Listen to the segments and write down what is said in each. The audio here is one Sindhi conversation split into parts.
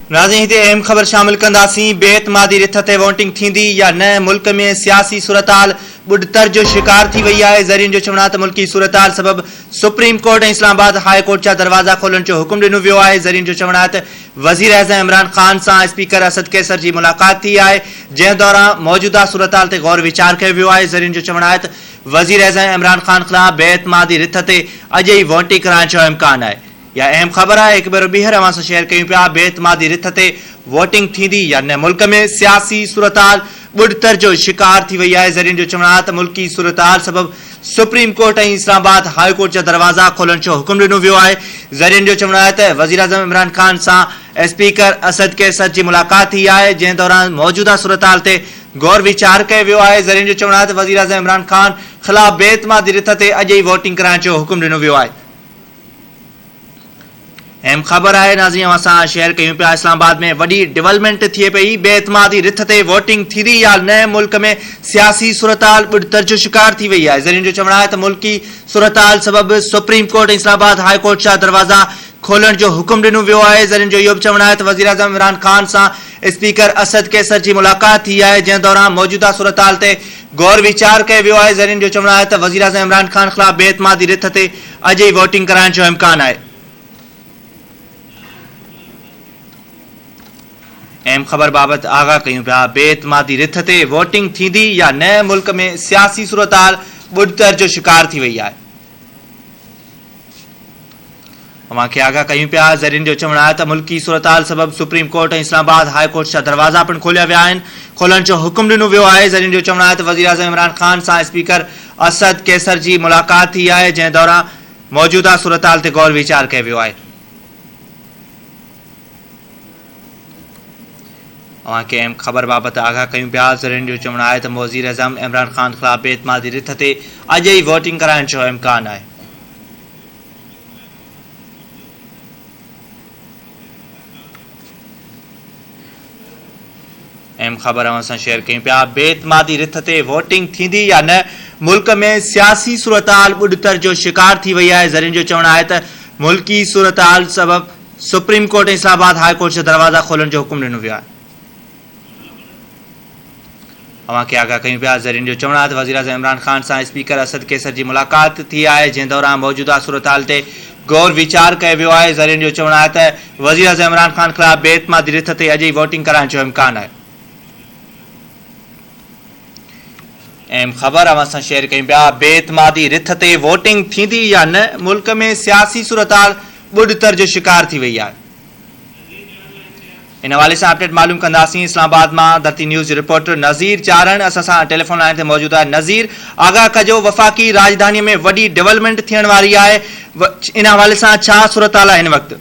ناظرين هتي اهم خبر شامل ڪنداسين، بي اعتمادي رٿ تي وونٽنگ ٿيندي يا نه، ملڪ ۾ سياسي صورتحال ٻڏتر جو شڪار ٿي وئي آهي، ذريعن جو چوڻ آهي ته ملڪي صورتحال سبب supreme court ۽ Islamabad high court جا دروازا کولڻ جو حڪم ڏنو ويو آهي، ذريعن جو چوڻ آهي ته وزيراعظم عمران خان سان اسپيڪر اسد قيصر جي ملاقات ٿي آهي، جنهن دوران موجوده صورتحال تي غور ويچار ڪيو ويو آهي، ذريعن جو چوڻ آهي ته وزيراعظم عمران خان خلاف بي اعتمادي رٿ تي اڄ ئي وونٽنگ ڪرائڻ جو امڪان آهي. اها اهم خبر آهي هڪ ڀيرو ٻيهر اوهان سان شيئر ڪيون پيا بي اعتمادي رٿ تي ووٽنگ ٿيندي يا نه ملڪ ۾ سياسي صورتحال ٻڏتر جو شڪار ٿي وئي آهي ذريعن جو چوڻ آهي ته ملڪي صورتحال سبب supreme court ۽ Islamabad high court جا دروازا کولڻ جو حڪم ڏنو ويو آهي ذريعن جو چوڻ آهي ته وزيراعظم عمران خان سان اسپيڪر اسد قيصر جي ملاقات ٿي آهي جنهن دوران موجوده صورتحال تي غور ويچار ڪيو ويو آهي ذريعن جو چوڻ آهي ته وزيراعظم عمران خان خلاف بي اعتمادي رٿ تي اڄ ئي ووٽنگ ڪرائڻ جو حڪم ڏنو ويو آهي ايم خبر آهي ناظرين اوهان سان شيئر ڪيون پيا اسلام آباد ۾ وڏي ڊيولپمينٽ ٿئي پئي بي اعتمادي رٿ تي ووٽنگ ٿيندي يا نه ملڪ ۾ سياسي صورتحال ٻڏتر جو شڪار ٿي وئي آهي ذريعن جو چوڻ آهي ته ملڪي صورتحال سبب supreme court ۽ Islamabad high court جا دروازا کولڻ جو حڪم ڏنو ويو آهي ذريعن جو اهو به چوڻ آهي ته وزيراعظم عمران خان سان اسپيڪر اسد قيصر جي ملاقات ٿي آهي جنهن دوران موجوده صورتحال تي غور ويچار ڪيو ويو آهي ذريعن جو چوڻ آهي ته وزيراعظم عمران خان خلاف بي اعتمادي رٿ تي اڄ ئي ووٽنگ ڪرائڻ جو امڪان آهي. اهم خبر بابت آگاهه ڪيون پيا، بي اعتمادي رٿ تي ووٽنگ ٿيندي يا نه، ملڪ ۾ سياسي صورتحال ٻڏتر جو شڪار ٿي وئي آهي. اوهان کي آگاهه ڪيون پيا، ذريعن جو چوڻ آهي ته ملڪي صورتحال سبب supreme court ۽ Islamabad high court جا دروازا پڻ کوليا ويا آهن، کولڻ جو حڪم ڏنو ويو آهي، ذريعن جو چوڻ آهي ته وزيراعظم عمران خان سان اسپيڪر اسد قيصر جي ملاقات ٿي آهي جنهن دوران موجوده صورتحال تي غور ويچار ڪيو ويو آهي. اوهان کي اهم خبر بابت آگاهه ڪيون پيا، ذريعن جو چوڻ آهي ته وزيراعظم عمران خان خلاف بي اعتمادي رٿ تي اڄ ئي ووٽنگ ڪرائڻ جو امڪان آهي. اهم خبر اوهان سان شيئر ڪيون پيا بي اعتمادي رٿ تي ووٽنگ ٿيندي يا نه ملڪ ۾ سياسي صورتحال ٻڏتر جو شڪار ٿي وئي آهي ذريعن جو چوڻ آهي ته ملڪي صورتحال سبب supreme court ۽ Islamabad high court جا دروازا کولڻ جو حڪم ڏنو ويو آهي اوهان کي آگاهه ڪيون پيا، ذريعن جو چوڻ آهي ته وزيراعظم عمران خان سان اسپيڪر اسد قيصر جي ملاقات ٿي آهي، جنهن دوران موجوده صورتحال تي غور ويچار ڪيو ويو آهي. ذريعن جو چوڻ آهي ته وزيراعظم عمران خان خلاف بي اعتمادي رٿ تي اڄ ئي ووٽنگ ڪرائڻ جو امڪان آهي. اهم خبر اوهان سان شيئر ڪيون پيا، بي اعتمادي رٿ تي ووٽنگ ٿيندي يا نه، ملڪ ۾ سياسي صورتحال ٻڏتر جو شڪار ٿي وئي آهي. ان حوالي سان اپڊيٽ معلوم ڪنداسين اسلام آباد مان ڌرتي نيوز جو رپورٽر نظير چارڻ اسان سان ٽيليفون لائين تي موجود آهي نظير آگاهه ڪجو وفاقي راڄڌاني ۾ وڏي ڊولپمينٽ ٿيڻ واري آهي ان حوالي سان ڇا صورتحال آهي هن وقت.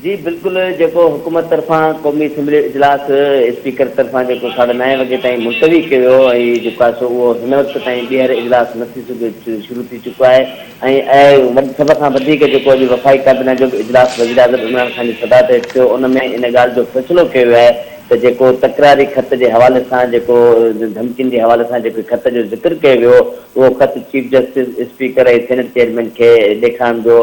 جي بلڪل جيڪو حڪومت طرفان قومي اسيمبلي اجلاس اسپيڪر طرفان جيڪو ساڍي نائين وڳي تائين ملتوي ڪيو ويو ۽ جيڪو آهي سو اهو هن وقت تائين ٻيهر اجلاس نه ٿي سگهيو شروع ٿي چڪو آهي ۽ اهو سڀ کان وڌيڪ جيڪو اڄ وفاقي ڪابينا جو به اجلاس وزيراعظم عمران خان جي صدارت هيٺ ٿيو ان ۾ ان ڳالهه جو فيصلو ڪيو ويو آهي ته جيڪو تڪراري خط جي حوالي سان جيڪو ڌمڪين جي حوالي سان جيڪي خط جو ذڪر ڪيو ويو هو اهو خط chief justice, speaker ۽ senate chairman کي ڏيکارڻ جو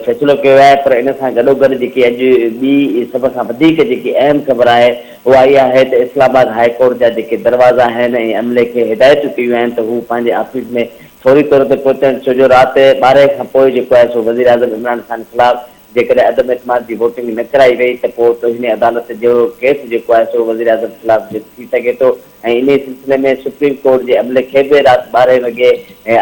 فيصلو ڪيو ويو آهي پر ان سان گڏوگڏ جيڪي اڄ ٻي سڀ کان وڌيڪ جيڪي اهم خبر آهي اها اها آهي ته اسلام آباد هاء ڪورٽ جا جيڪي دروازا آهن ۽ عملي کي هدايتون ڪيون آهن ته هو پنهنجي آفيس ۾ فوري طور تي پهچڻ ڇو جو رات ٻارهين کان پوء جيڪو آهي سو وزيراعظم عمران خان خلاف جيڪڏهن عدم اعتماد جي ووٽنگ نه ڪرائي وئي ته پوء توهين عدالت جهڙو ڪيس جيڪو آهي سو وزيراعظم خلاف به ٿي سگهي ٿو ۽ انهي سلسلي ۾ سپريم ڪورٽ جي عملي کي به رات ٻارهين وڳي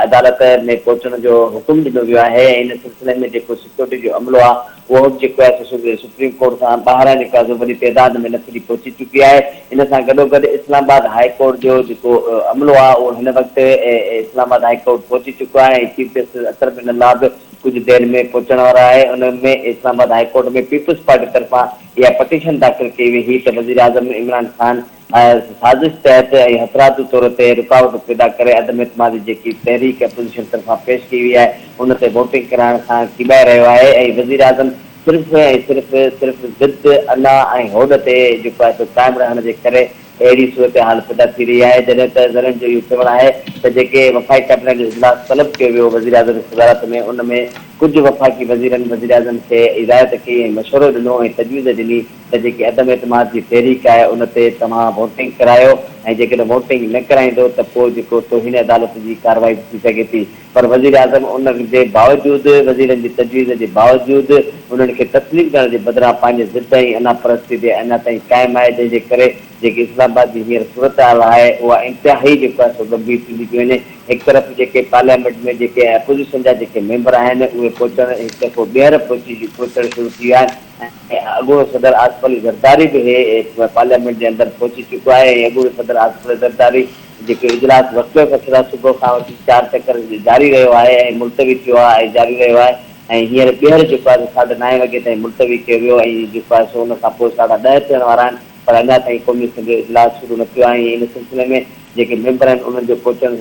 عدالت ۾ پهچڻ جو حڪم ڏنو ويو آهي ۽ ان سلسلي ۾ جيڪو ڪورٽ جو عملو آهي اهو به جيڪو آهي سو سپريم ڪورٽ کان ٻاهران جيڪو آهي سو وڏي تعداد ۾ نفري پهچي چڪي آهي ان سان گڏوگڏ اسلام آباد هاء ڪورٽ جو جيڪو عملو آهي اهو هن وقت اسلام آباد هاء ڪورٽ پهچي چڪو آهي ۽ chief justice Athar Minallah به ڪجهه دير ۾ پهچڻ وارو آهي ان ۾ Islamabad high court ۾ peoples party طرفان اها پٽيشن داخل ڪئي وئي هئي ته وزيراعظم عمران خان محض سازش تحت ۽ حتراتي طور تي رڪاوٽ پيدا ڪري عدم اعتمادي جيڪي تحريڪ اپوزيشن طرفان پيش ڪئي وئي آهي ان تي ووٽنگ ڪرائڻ کان ڪيٻائي رهيو آهي ۽ وزيراعظم صرف ۽ صرف صرف ضد، انا ۽ هوڏ تي جيڪو آهي سو قائم رهڻ جي ڪري اهڙي صورتحال پيدا ٿي رهي آهي جڏهن ته ذريعن جو اهو چوڻ آهي ته جيڪي وفاقي ڪابينا جو اجلاس طلب ڪيو ويو وزيراعظم جي صدارت ۾ ان ۾ ڪجهه وفاقي وزيرن وزيراعظم کي هدايت ڪئي ۽ مشورو ڏنو ۽ تجويز ڏني ته جيڪي عدم اعتماد جي تحريڪ آهي ان تي توهان ووٽنگ ڪرايو ۽ جيڪڏهن ووٽنگ نه ڪرائيندو ته پوء جيڪو توهين عدالت جي ڪارروائي به ٿي سگهي ٿي پر وزيراعظم ان جي باوجود وزيرن جي تجويز جي باوجود انهن کي تسليم ڪرڻ جي بدران پنهنجي ضد ۽ انا پرستي تي اڃا تائين قائم آهي جنهن جي ڪري جيڪي اسلام آباد جي هينئر صورتحال آهي اها انتهائي جيڪو آهي سو ڳنڀير ٿيندي پيئي وڃي هڪ طرف جيڪي پارليامينٽ ۾ جيڪي اپوزيشن جا جيڪي ميمبر آهن اهي پهچڻ هڪ دفعو ٻيهر پهچي پهچڻ شروع ٿي ويا آهن. ۽ اڳوڻو صدر آصف علي زرداري به پارليامينٽ جي اندر پهچي چڪو آهي ۽ اڳوڻي صدر آصف علي زرداري جيڪو اجلاس وڪليف اڪثرا صبح کان وٺي چار چڪر جاري رهيو آهي ۽ ملتوي ٿيو آهي ۽ جاري رهيو آهي ۽ هينئر ٻيهر جيڪو آهي سو ساڍي نائين وڳي تائين ملتوي ڪيو ويو ۽ جيڪو آهي سو ان کان پوء ساڍا ڏهه ٿيڻ وارا آهن پر اڃا تائين قومي اسيمبلي جو اجلاس شروع نه ٿيو آهي ۽ ان سلسلي ۾ جيڪي ميمبر آهن انهن جو پهچڻ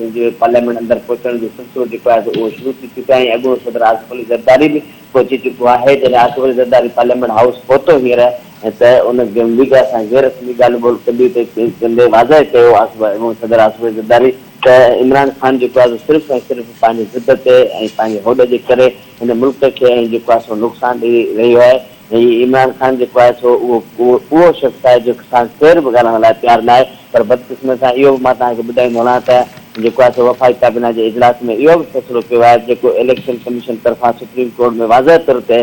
پارليامينٽ اندر پهچڻ جو سلسلو جيڪو آهي سو اهو شروع ٿي چڪو آهي ۽ اڳوڻو صدر آصف علي زرداري به پهچي چڪو آهي، جڏهن اڪبر زرداري پارليامينٽ هائوس پهتو هينئر ته ان ميڊيا سان غير رسمي ڳالهه ٻولهه ڪندي تي ڪندي واضح ڪيو صدر اڪبر زرداري ته عمران خان جيڪو آهي سو صرف ۽ صرف پنهنجي ضد تي ۽ پنهنجي هوڏ جي ڪري هن ملڪ کي ۽ جيڪو آهي سو نقصان ڏئي رهيو آهي ۽ عمران خان جيڪو آهي سو اهو اهو شخص آهي جو ساڻس ڪير به ڳالهائڻ لاء تيار ناهي. پر بدقسمتي سان اهو به مان توهان کي ٻڌائيندو هلان ته جيڪو آهي سو وفاقي ڪابينا جي اجلاس ۾ اهو به فيصلو ڪيو آهي جيڪو اليڪشن ڪميشن طرفان سپريم ڪورٽ ۾ واضح طور تي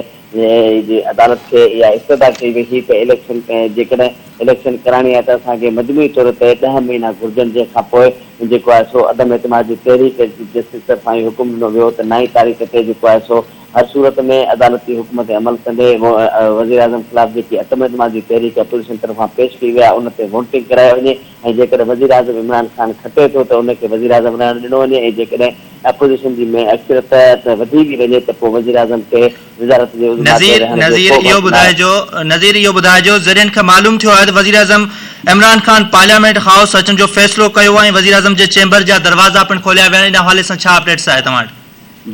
جي عدالت کي اها استدعا ڪئي وئي هئي ته اليڪشن جيڪڏهن اليڪشن ڪراڻي آهي ته اسان کي مجموعي طور تي ڏهه مهينا گهرجن جنهن کان پوء جيڪو آهي سو عدم اعتماد جي تحريڪ جي جسٽس طرفان اهو حڪم ڏنو ويو هو ته نائين تاريخ تي جيڪو آهي سو هر صورت ۾ عدالتي حڪم تي عمل ڪندي وزيراعظم خلاف جيڪي عدم اعتماد جي تحريڪ اپوزيشن طرفان پيش ڪئي وئي آهي ان تي وونٽنگ ڪرائي وڃي ۽ جيڪڏهن وزيراعظم عمران خان کٽي ٿو ته ان کي وزيراعظم رهڻ ڏنو وڃي ۽ جيڪڏهن اپوزيشن جي ۾ اڪثريت وڌي به وڃي ته پوء وزيراعظم کي وزارت جي عظميٰ تي نظير رهڻ جو نظير ڪو به اهو حق ناهي. ٻڌائجو نظير اهو ٻڌائجو ذريعن کي معلوم ٿيو آهي ته وزيراعظم عمران خان پارليامينٽ هائوس اچڻ جو فيصلو ڪيو آهي ۽ وزيراعظم جي چيمبر جا دروازا پڻ کوليا ويا آهن ان حوالي سان ڇا اپڊيٽس آهي توهان وٽ؟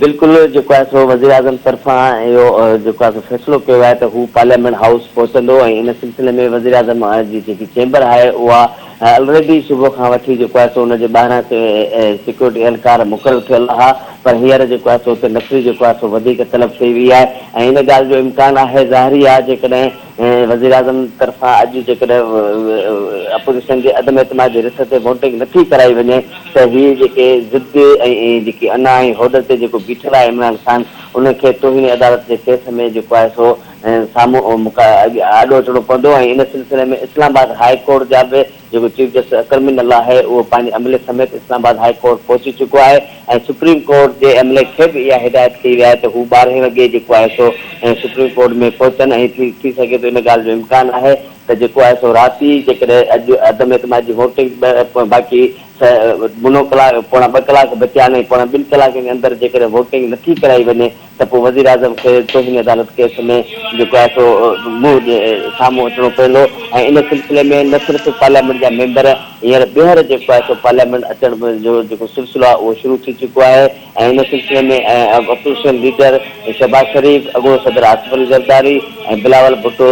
بلڪل جيڪو آهي سو وزيراعظم طرفان اهو جيڪو آهي سو فيصلو ڪيو آهي ته هو پارليامينٽ هائوس پهچندو ۽ ان سلسلي ۾ وزيراعظم جي جيڪي چيمبر آهي اها الريڊي صبح کان وٺي جيڪو آهي سو ان جي ٻاهران سيڪيورٽي اهلڪار مقرر ٿيل آهي پر هينئر جيڪو آهي سو اتي نفري جيڪو آهي سو وڌيڪ طلب ٿي وئي آهي ۽ ان ڳالهه جو امڪان آهي ظاهري آهي جيڪڏهن وزيراعظم طرفان اڄ جيڪڏهن اپوزيشن جي عدم اعتماد جي رٿ تي ووٽنگ نه ٿي ڪرائي وڃي ته هي جيڪي ضد ۽ جيڪي انا ۽ هوڏ تي جيڪو بيٺل آهي عمران خان ان کي توهين عدالت جي ڪيس ۾ جيڪو آهي سو سامهون آڏو اچڻو پوندو ۽ ان سلسلي ۾ اسلام آباد هاء ڪورٽ جا به جيڪو چيف جسٽس اڪرم بن الله آهي اهو پنهنجي عملي سميت اسلام آباد هاء ڪورٽ پهچي چڪو آهي ۽ سپريم ڪورٽ جي عملي کي به اها هدايت ڪئي وئي آهي ته هو ٻارهين وڳي جيڪو آهي سو سپريم ڪورٽ ۾ پهچن ۽ ٿي سگهي ٿو ان ڳالهه جو امڪان آهي ته جيڪو آهي سو رات ئي جيڪڏهن اڄ عدم اعتماد جي ووٽنگ باقي منو ڪلاڪ پوڻا ٻه ڪلاڪ بچيا آهن ۽ پوڻا ٻن ڪلاڪن جي اندر جيڪڏهن ووٽنگ نٿي ڪرائي وڃي ته پوء وزيراعظم کي توهين عدالت ڪيس ۾ جيڪو آهي سو منهن ڏي سامهون اچڻو پوندو ۽ ان سلسلي ۾ نه صرف پارليامينٽ جا ميمبر هينئر ٻيهر جيڪو آهي سو پارليامينٽ اچڻ جو جيڪو سلسلو آهي اهو شروع ٿي چڪو آهي ۽ ان سلسلي ۾ اپوزيشن ليڊر شهباز شريف، اڳوڻو صدر آصف علي زرداري ۽ بلاول ڀٽو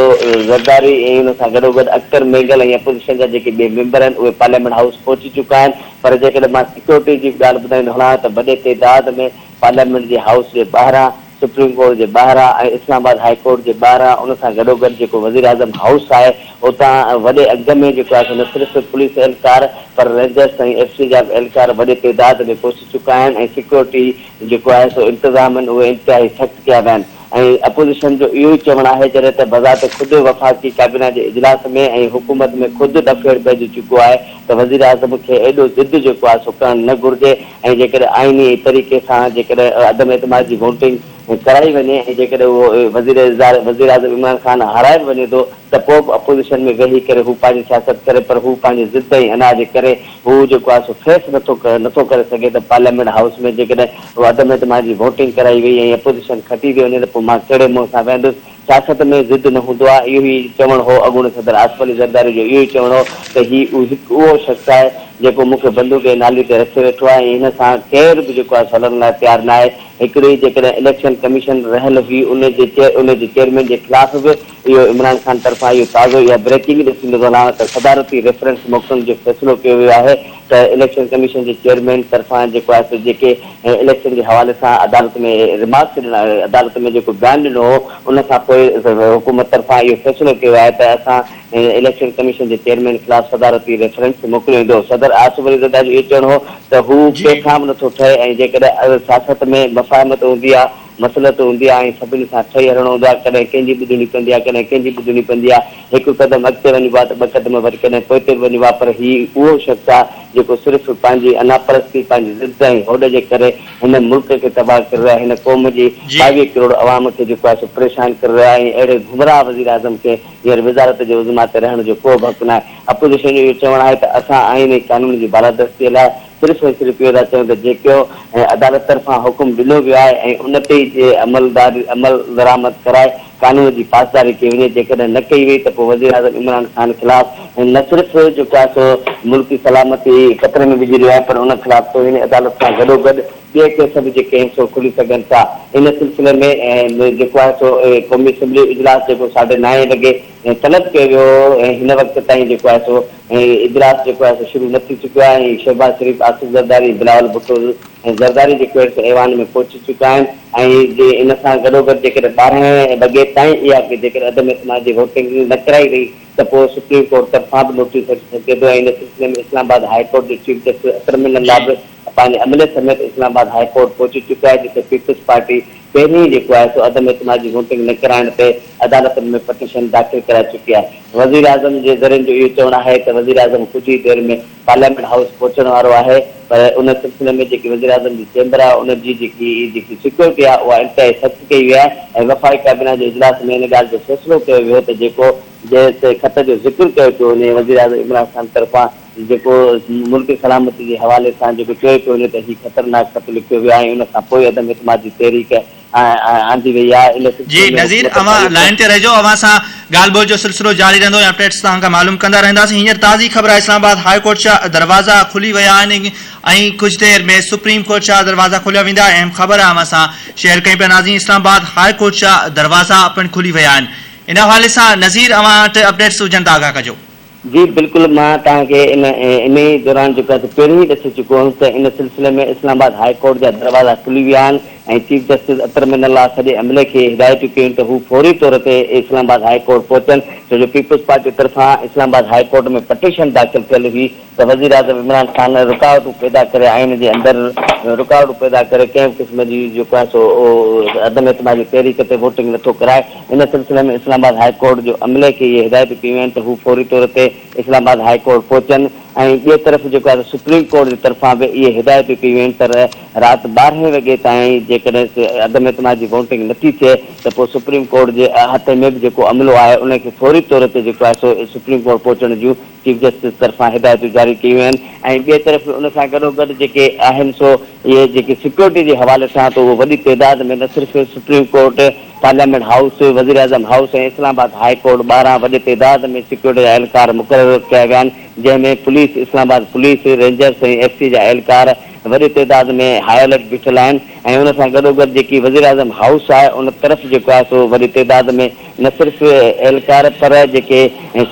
زرداري ۽ ان سان گڏوگڏ اختر مينگل ۽ اپوزيشن جا جيڪي ٻئي ميمبر آهن اهي پارليامينٽ هائوس پهچي چڪا آهن پر جيڪڏهن مان سيڪيورٽي جي به ڳالهه ٻڌائيندو هلان ته وڏي تعداد ۾ پارليامينٽ جي هائوس جي ٻاهران، سپريم ڪورٽ جي ٻاهران ۽ اسلام آباد هاء ڪورٽ جي ٻاهران ان سان گڏوگڏ جيڪو وزيراعظم هائوس آهي اتان وڏي اگهه ۾ جيڪو آهي سو نه صرف پوليس اهلڪار پر رينجرز ۽ ايف سي جا به اهلڪار وڏي تعداد ۾ پهچي چڪا آهن ۽ سيڪيورٽي جيڪو آهي سو انتظام آهن اهي انتهائي سخت ڪيا ويا آهن. ۽ اپوزيشن جو اهو ئي چوڻ آهي جڏهن ته بذات خود وفاقي ڪابينا جي اجلاس ۾ ۽ حڪومت ۾ خود ڏڦيڙ پئجي چڪو آهي ته وزيراعظم کي ايڏو ضد جيڪو آهي سو ڪرڻ نه گهرجي ۽ جيڪڏهن آئيني طريقي سان جيڪڏهن عدم اعتماد جي ووٽنگ ڪرائي وڃي ۽ جيڪڏهن اهو وزير وزيراعظم عمران خان هارائي به وڃي ٿو ته پوء به اپوزيشن ۾ ويهي ڪري هو پنهنجي سياست ڪري پر هو پنهنجي ضد ۽ انا جي ڪري هو جيڪو آهي سو فيس نٿو نٿو ڪري سگهي ته پارليامينٽ هائوس ۾ جيڪڏهن عدم اعتماد جي ووٽنگ ڪرائي وئي ۽ اپوزيشن کٽي ٿي وڃي ته پوء مان ڪهڙي منهن سان ويهندس. سياست ۾ ضد نه هوندو آهي اهو ئي چوڻ هو اڳوڻي صدر آصف علي زرداري جو اهو ئي چوڻ هو ته هي هڪ اهو شخص آهي جيڪو مون کي بندوق جي نالي تي رکي ويٺو آهي ۽ هن سان ڪير به جيڪو آهي سو هلڻ لاء تيار ناهي. هڪڙي جيڪڏهن اليڪشن ڪميشن رهيل هئي ان جي ان جي چيئرمين جي خلاف به اهو عمران خان طرفان اهو تازو اها بريڪنگ ڏسي مزو نه آڻ ته صدارتي ريفرنس موڪلڻ جو فيصلو ڪيو ويو آهي ته اليڪشن ڪميشن جي چيئرمين طرفان جيڪو آهي سو جيڪي اليڪشن جي حوالي سان عدالت ۾ ريمارڪس ڏنا عدالت ۾ جيڪو بيان ڏنو هو ان کان پوء حڪومت طرفان اهو فيصلو ڪيو آهي ته اسان اليڪشن ڪميشن جي چيئرمين خلاف صدارتي ريفرنس موڪليو ويندو صدر آصف علي زرداري جو اهو چوڻ هو ته هو ڪنهن کان به نٿو ٺهي ۽ جيڪڏهن سياست ۾ مفاهمت هوندي آهي مصلحت هوندي آهي ۽ سڀني سان ٺهي هلڻو هوندو آهي، ڪڏهن ڪنهن جي ٻڌڻي پوندي آهي ڪڏهن ڪنهن جي ٻڌڻي پوندي آهي، هڪ قدم اڳتي وڃبو آهي ته ٻه قدم وري ڪڏهن پوئتي به وڃبو آهي پر هي اهو شخص آهي جيڪو صرف پنهنجي انا پرستي، پنهنجي ضد ۽ هوڏ جي ڪري هن ملڪ کي تباهه ڪري رهيو آهي، هن قوم جي جي. ٻاويهه ڪروڙ عوام کي جيڪو آهي سو پريشان ڪري رهيو آهي ۽ اهڙي گمراهه وزيراعظم کي هينئر وزارت جي عظميٰ تي رهڻ جو ڪوبه حق ناهي، اپوزيشن جو اهو چوڻ آهي ته اسان آئين ۽ قانون جي بالادستي لاء. صرف ۽ صرف اهو ٿا چيون ته جيڪو عدالت طرفان حڪم ڏنو ويو آهي ۽ ان تي ئي جي عملدرآمد ڪرائي قانون جي پاسداري ڪئي وڃي، جيڪڏهن نه ڪئي وئي ته پوء وزيراعظم عمران خان خلاف نه صرف جو ڪا سو ملڪي سلامتي خطري ۾ وجهي رهيو آهي پر ان خلاف توهين عدالت سان گڏوگڏ ٻيا ڪيس به جيڪي آهن سو کلي سگهن ٿا. ان سلسلي ۾ جيڪو آهي سو قومي اسيمبلي اجلاس جيڪو ساڍي نائين لڳي طلب ڪيو ويو هو ۽ هن وقت تائين جيڪو آهي سو هي اجلاس جيڪو آهي سو شروع نه ٿي چڪو آهي ۽ شهباز شريف، آصف زرداري، بلاول ڀٽو ۽ زرداري جي ڪوئيٽ ايوان ۾ پهچي چڪا آهن ۽ جي ان سان گڏوگڏ جيڪڏهن ٻارهن وڳي تائين اها جيڪڏهن عدم اعتماد جي ووٽنگ نه ڪرائي وئي ته پوء سپريم ڪورٽ طرفان به نوٽيس اچي سگهي ٿو ۽ ان سلسلي ۾ اسلام آباد هاء ڪورٽ جي چيف جسٽس اڪرم منلان به پنهنجي عملي سميت اسلام آباد هاء ڪورٽ پهچي چڪو آهي جتي پيپلز پارٽي پهرين ئي جيڪو آهي سو عدم اعتماد جي ووٽنگ نه ڪرائڻ تي عدالتن ۾ پٽيشن داخل ڪرائي چڪي آهي وزيراعظم جي ذريعن جو اهو چوڻ آهي ته وزيراعظم ڪجهه ئي دير ۾ پارليامينٽ هائوس پهچڻ وارو آهي پر ان سلسلي ۾ جيڪي وزيراعظم جي چيمبر آهي ان جي جيڪي جيڪي سيڪيورٽي آهي اها انتهائي سخت ڪئي وئي آهي ۽ وفاقي ڪابينا جي اجلاس ۾ ان ڳالهه جو فيصلو ڪيو ويو ته جيڪو جنهن تي خط جو ذڪر ڪيو پيو وڃي وزيراعظم عمران خان طرفان جيڪو ملڪي سلامتي جي حوالي سان جيڪو چوي پيو وڃي ته هي خطرناڪ خط لکيو ويو آهي ۽ ان کان پوء عدم اعتماد جي تحريڪ آندي وئي آهي ان جي سلسلي ۾ نظير حڪومت اوهان تعلقي لائين تي رهجو اوهان سان ڳالهه ٻولهه جو سلسلو جاري رهندو ۽ اپڊيٽس توهان کان معلوم ڪندا رهنداسين هينئر تازي خبر آهي اسلام آباد هاء ڪورٽ جا دروازا کلي ويا آهن ۽ ڪجهه دير ۾ سپريم ڪورٽ جا دروازا کوليا ويندا اهم خبر اوهان سان شيئر ڪيون پيا ناظرين اسلام آباد هاء ڪورٽ جا دروازا پڻ کلي ويا آهن ان حوالي سان نظير اوهان وٽ اپڊيٽس هجن ته آگاهه ڪجو. جي بلڪل مان توهان کي ان انهي دوران جي ڪٿ پهرين ئي ڏسي چڪو هئس ته ان سلسلي ۾ اسلام آباد هاء ڪورٽ جا دروازا کلي ويا آهن ۽ chief justice Athar Minallah سڄي عملي کي هدايتون ڪيون ته هو فوري طور تي اسلام آباد هاء ڪورٽ پهچن ڇو جو پيپلز پارٽي طرفان Islamabad high court ۾ petition داخل ٿيل هئي ته وزيراعظم عمران خان رڪاوٽون پيدا ڪري آئين جي اندر رڪاوٽون پيدا ڪري ڪنهن به قسم جي جيڪو آهي سو عدم اعتماد جي تحريڪ تي ووٽنگ نٿو ڪرائي ان سلسلي ۾ اسلام آباد هاء ڪورٽ جو عملي کي اهي هدايتون ڪيون آهن ته هو فوري طور تي اسلام آباد هاء ڪورٽ پهچن ۽ ٻئي طرف جيڪو آهي ته سپريم ڪورٽ جي طرفان به اهي هدايتون ڪيون ويون ته رات ٻارهين وڳي تائين جيڪڏهن عدم اعتماد جي ووٽنگ نٿي ٿئي ته پوء سپريم ڪورٽ جي احاطي ۾ به جيڪو عملو آهي ان کي فوري طور تي جيڪو آهي سو سپريم ڪورٽ پهچڻ جون چيف جسٽس طرفان هدايتون جاري ڪيون ويون آهن ۽ ٻئي طرف ان سان گڏوگڏ جيڪي آهن سو اهي جيڪي سيڪيورٽي جي حوالي سان ته اهو وڏي تعداد ۾ نه صرف سپريم ڪورٽ، پارليامينٽ هائوس، وزيراعظم house ۽ Islamabad high court ٻاهران وڏي تعداد ۾ سيڪيورٽي جا اهلڪار مقرر ڪيا ويا آهن جنهن ۾ police, Islamabad police, rangers ۽ F C جا اهلڪار وڏي تعداد ۾ هاء الرٽ بيٺل آهن ۽ ان سان گڏوگڏ جيڪي وزيراعظم هائوس آهي ان طرف جيڪو آهي سو وڏي تعداد ۾ نه صرف اهلڪار پر جيڪي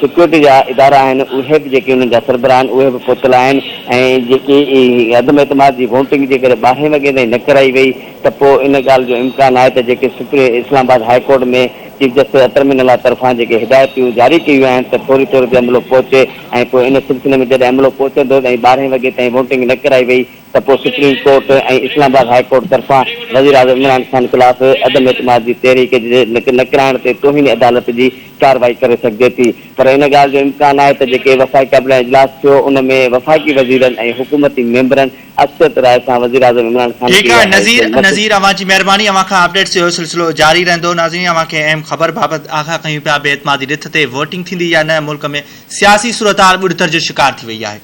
سيڪيورٽي جا ادارا آهن اهي به جيڪي انهن جا سربراهه آهن اهي به پوتل آهن ۽ جيڪي هي عدم اعتماد جي ووٽنگ جيڪڏهن ٻارهين وڳي تائين نه ڪرائي وئي ته پوء ان ڳالهه جو امڪان آهي ته جيڪي supreme Islamabad high court ۾ chief justice Athar Minallah طرفان جيڪي هدايتون جاري ڪيون ويون آهن ته فوري طور تي عملو پهچي ۽ پوء ان سلسلي ۾ جڏهن عملو پهچندو ۽ ٻارهين وڳي تائين ووٽنگ نه ڪرائي وئي ته پوء supreme court ۽ Islamabad high court طرفان وزيراعظم عمران خان خلاف عدم اعتماد جي تحريڪ جي نه ڪرائڻ تي توهين عدالت جي ڪارروائي ڪري سگهجي ٿي پر ان ڳالهه جو امڪان آهي ته جيڪي وفاقي ڪابينا اجلاس ٿيو ان ۾ وفاقي وزيرن ۽ حڪومتي ميمبرن اڪثريت راء سان وزيراعظم عمران خان کي اها حيثيت نصير نه نصير اوهان جي مهرباني اوهان کان اپڊيٽس جو سلسلو جاري رهندو ناظرين اوهان کي اهم خبر بابت آگاهه ڪيون پيا بي اعتمادي رٿ تي ووٽنگ ٿيندي يا نه ملڪ ۾ سياسي صورتحال ٻڏتر جو شڪار ٿي وئي آهي